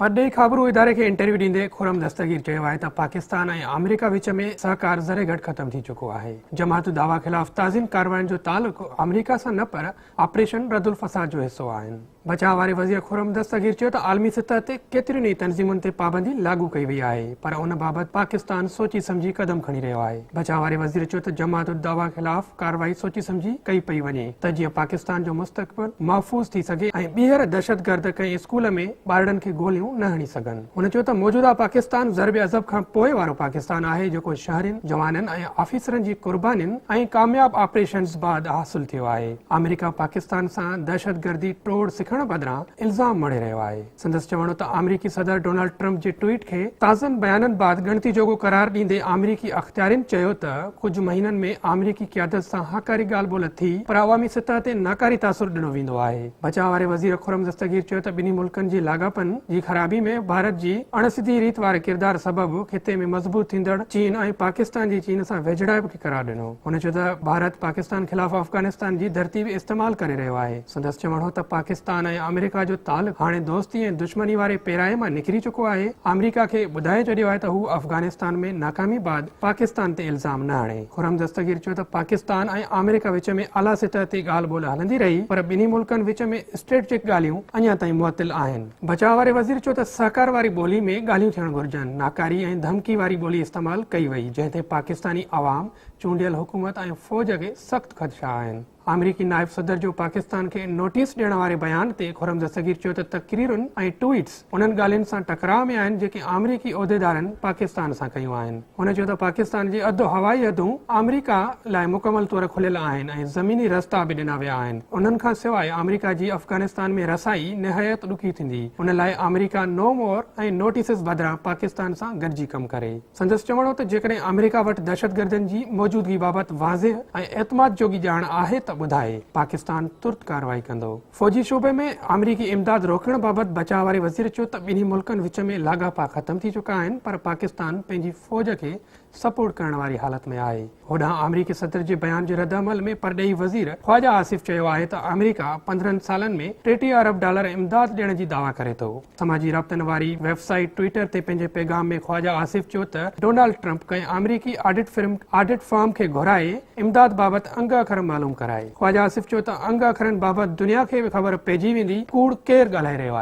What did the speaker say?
پرڏيهي خابرو اداري کي انٽرويو ڏيندي خرم دستگير چيو آهي ته پاڪستان ۽ آمريڪا وچ ۾ سهڪار ذري گهٽ ختم ٿي چڪو آهي. جماعت دعويٰ خلاف تازين ڪارروائين جو تعلق آمريڪا سان نه پر آپريشن ردالفساد جو حصو آهن. بچاء واري وزير خرم دستگير چيو ته عالمي سطح تي ڪيترين ئي تنظيمن تي پابندي لاڳو ڪئي وئي آهي پر ان بابت پاڪستان سوچي سمجهي قدم کڻي رهيو آهي. بچاء واري وزير چيو ته جماعت الدعوه خلاف ڪارروائي سوچي سمجهي ڪئي پئي وڃي ته جيئن پاڪستان جو مستقبل محفوظ ٿي سگهي ۽ ٻيهر دهشتگرد ڪنهن اسڪول ۾ ٻارڙن کي گوليون نه هڻي سگهن. هن چيو ته موجوده پاڪستان ضرب عضب کان پوء وارو پاڪستان آهي جيڪو شهرين، جوانن ۽ آفيسرن جي قربانين ۽ ڪامياب آپريشنز بعد حاصل ٿيو آهي. آمريڪا پاڪستان سان دهشتگردي ٽوڙ سکڻ بدران الزام مڙهي رهيو آهي. سندس چوڻو ته آمريڪي صدر ڊونلڊ ٽرمپ جي ٽوئيٽ کي تازن بيانن بعد ڳڻتي جوڳو قرار ڏيندي آمريڪي اختيارين چيو ته ڪجهه مهينن ۾ آمريڪي قيادت سان هاڪاري ڳالهه ٻولهه ٿي پر عوامي سطح تي ناڪاري تاثر ڏنو ويندو آهي. بچاء واري وزير خرم دستگير چيو ته ٻنهي ملڪن جي لاڳاپن جي خرابي ۾ ڀارت جي اڻ سڌي ريت واري ڪردار سبب خطي ۾ مضبوط ٿيندڙ چين ۽ پاڪستان جي چين سان ويجهڙائپ کي قرار ڏنو. هن چيو ته ڀارت پاڪستان خلاف افغانستان جي ڌرتي به استعمال ڪري رهيو آهي. سندس چوڻ هو ته پاڪستان ۽ آمريڪا جو تعلق هاڻي دوستي ۽ دشمني واري پيراهي مان نڪري چڪو آهي، آمريڪا کي ٻڌائي ڇڏيو آهي ته هو افغانستان ۾ ناڪامي بعد پاڪستان تي الزام نه هڻي. خرم دستگير چيو ته پاڪستان ۽ آمريڪا وچ ۾ اعليٰ سطح تي ڳالهه ٻولهه هلندي رهي پر ٻنهي ملڪن وچ ۾ اسٽريٽجڪ ڳالهيون اڃا تائين معطل آهن. بچاء واري وزير چيو ته سهڪار واري ٻولي ۾ ڳالهيون ٿيڻ گهرجن، ناڪاري ۽ ڌمڪي واري ٻولي استعمال ڪئي وئي جنهن تي پاڪستاني عوام، چونڊيل حڪومت ۽ فوج کي سخت خدشا آهن. آمريڪي نائب صدر جو پاڪستان کي نوٽيس ڏيڻ واري بيان تي خرمزه صغير چيو ته تقريرن ۽ ٽوئيٽس انهن ڳالهين سان ٽڪراء ۾ آهن جيڪي آمريڪي عهديدارن پاڪستان سان ڪيون آهن. هن چيو ته پاڪستان جي اڌ هوائي حدون آمريڪا لاء مڪمل طور کليل آهن ۽ زميني رستا به ڏنا ويا آهن، انهن کان سواء آمريڪا جي افغانستان ۾ رسائي نهايت ڏکي ٿيندي، ان لاء آمريڪا نو مور ۽ نوٽيسز بدران پاڪستان سان گڏجي ڪم ڪري. سندس چوڻ هو ته جيڪڏهن آمريڪا وٽ دهشتگردن جي موجودگي بابت واضح ۽ اعتماد جوڳي ڄاڻ آهي ته ٻڌائي، پاڪستان ترت ڪارروائي ڪندو. فوجي شعبي ۾ آمريڪي امداد روڪڻ بابت بچاء واري وزير چيو ته ٻنهي ملڪن وچ ۾ لاڳاپا ختم ٿي چڪا آهن پر پاڪستان پنهنجي فوج کي سپورٽ ڪرڻ واري حالت ۾ آهي. هوڏانهن آمريڪي صدر جي بيان جي ردعمل ۾ پرڏيهي وزير خواجه آصف چيو آهي ته آمريڪا پندرهن سالن ۾ ٽيٽيهه ارب ڊالر امداد ڏيڻ جي دعويٰ ڪري ٿو. سماجي رابطن واري ويب سائيٽ ٽوئيٽر تي پنهنجي پيغام ۾ خواجه آصف چيو ته ڊونالڊ ٽرمپ ڪنهن آمريڪي آڊٽ فرم آڊٽ فرم کي گهرائي امداد بابت انگ اکر معلوم ڪرائي. خواجه آصف چيو ته انگ اکرن بابت دنيا کي به خبر پئجي ويندي ڪوڙ ڪير ڳالهائي رهيو آهي.